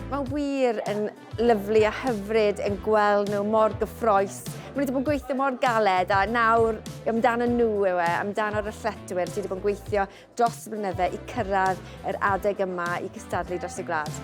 Mae wir yn lyflu a hyfryd yn gweld nhw mor gyffroes. Mae wedi bod yn gweithio mor galed a nawr amdano nhw yw e, amdano'r athletwyr sydd wedi bod yn gweithio dros y blynydde i cyrraedd yr adeg yma i gystadlu dros y gwlad.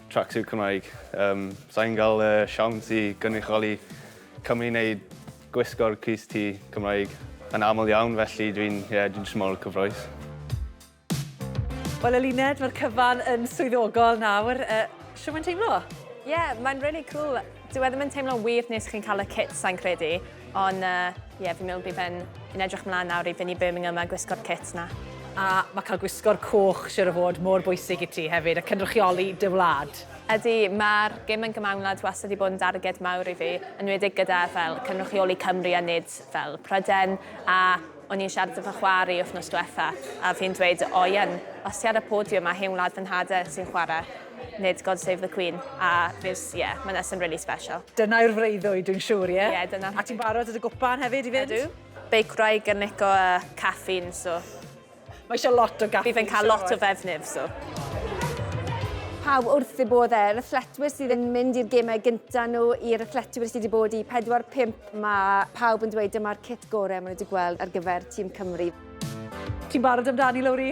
Tracksuit Cymraeg. Yym, sa i'n cael y siawns i gynrychioli Cymru i wneud gwisgo'r crys T Cymraeg yn aml iawn, felly dwi'n, ie, dwi'n jyst mor cyffrous. Wel Eluned, mae'r cyfan yn swyddogol nawr. Yy, shwt mae'n teimlo? Ie, mae'n rili cŵl. Dyw e ddim yn teimlo'n wir nes chi'n cael y kit, sa'n credu. Ond, uh, ie, yeah, fi'n meddwl bydd fe'n yn edrych mlaen nawr i fynd i Birmingham a gwisgo'r kit na. A mae cael gwisgo'r coch siwr o fod mor bwysig i ti hefyd, a cynrychioli dy wlad. Ydy, mae'r gym yn gymawnlad wastad wedi bod yn darged mawr i fi, yn wedig gyda fel cynrychioli Cymru a nid fel Pryden, a o'n i'n siarad efo chwari wythnos diwetha, a fi'n dweud, o ie'n, os ti ar y podiwm a hen wlad fy nhad e sy'n chwarae, Nid God Save the Queen, a just, ie, yeah, mae'n nesyn really special. Dyna yw'r freuddwyd, dwi'n siŵr, ie? Ie, dyna. A ti'n barod at y gwpan hefyd i fynd? Ydw. Beicwraig yn nico a caffeine, so... Mae eisiau lot o gaffi. Bydd yn cael lot o fefnydd, so. Pawb wrth ei bodd e, rhythletwyr sydd yn mynd i'r gemau gyntaf nhw, i'r rhythletwyr sydd wedi bod i 4-5, mae pawb yn dweud dyma'r cit gorau maen nhw wedi gweld ar gyfer tîm Cymru. Ti'n barod amdani, Lowri?